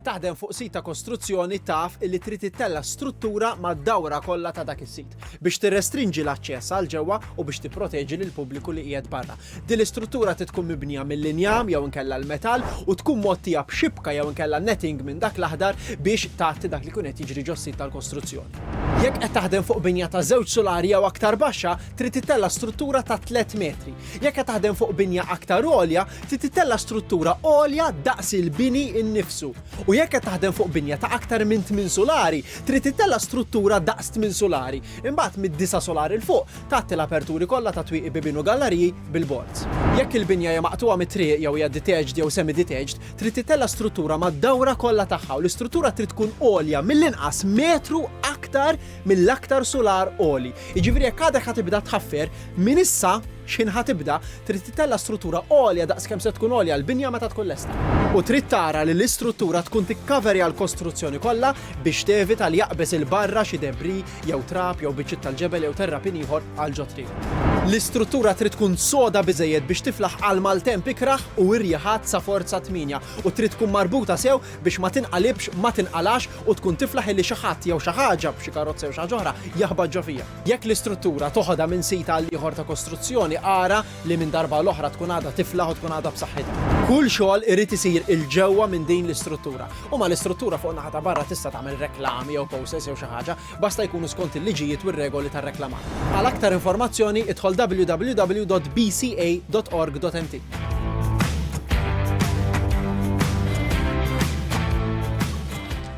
Taħdem fuq sit ta' kostruzzjoni taf illi trid ittella' struttura mad-dawra kollha ta' dak is-sit biex tirrestrinġi l-aċċess għal ġewwa u biex tipproteġi lill-pubbliku li qiegħed barra. Din l-istruttura trid tkun mibnija mill-injam jew inkella l-metall u tkun mgħottija b'xibka jew inkella netting minn dak l-aħdar biex tgħatti dak li jkun qed jiġri ġos-sit tal-kostruzzjoni. Jekk qed taħdem fuq binja ta' żewġ sulari jew aktar baxxa, trid ittella' struttura ta' tliet metri. Jekk qed taħdem fuq binja aktar għolja, trid tittella' struttura għolja daqs il-bini nnifsu. U jekk qed taħdem fuq binja ta' aktar minn tmien sulari, trid tittella' struttura daqs tmien sulari. Imbagħad mid-disa' sulari 'l fuq, tgħatti l-aperturi kollha ta' twieqi bibien u gallariji bil-boards. Jekk il-binja hija maqtugħa mit-triq jew hija detached jew semi-detached, trid tittella' struttura mad-dawra kollha tagħha u l-istruttura trid tkun għolja mill-inqas metru aktar mill-aktar sular għoli. Jiġifieri jekk għadek ħa tibda tħaffer, minn issa x'ħin ħa tibda, trid titella' struttura għolja daqs kemm se tkun għolja l-binja meta tkun lesta. U trid tara li l-istruttura tkun tikkaverja l-kostruzzjoni kollha biex tevita li jaqbeż 'il barra xi debris jew trab jew biċċiet tal-ġebel jew terrapien ieħor għal ġo triq. L-istruttura trid tkun soda biżejjed biex tiflaħ għal maltemp ikrah u irjieħat sa forza tmienja u trid tkun marbuta sew biex ma tinqalibx, ma tinqalax u tkun tiflaħ illi xi ħadd jew xi ħaġa, b'xi karozza jew xi ħaġa oħra, jaħbat ġo fiha. Jekk l-istruttura toħodha minn sit għal ieħor ta' kostruzzjoni, ara li minn darba għal oħra tkun għadha tiflaħ u tkun għadha b'saħħitha. Kull xogħol irid isir 'il ġewwa minn din l-istruttura. U mal-istruttura fuq in-naħa ta' barra tista' tagħmel reklami jew posters jew xi ħaġa. basta jkunu skont il-liġijiet u r-regoli tar-reklamar. Għal aktar informazzjoni idħol www.bca.org.mt.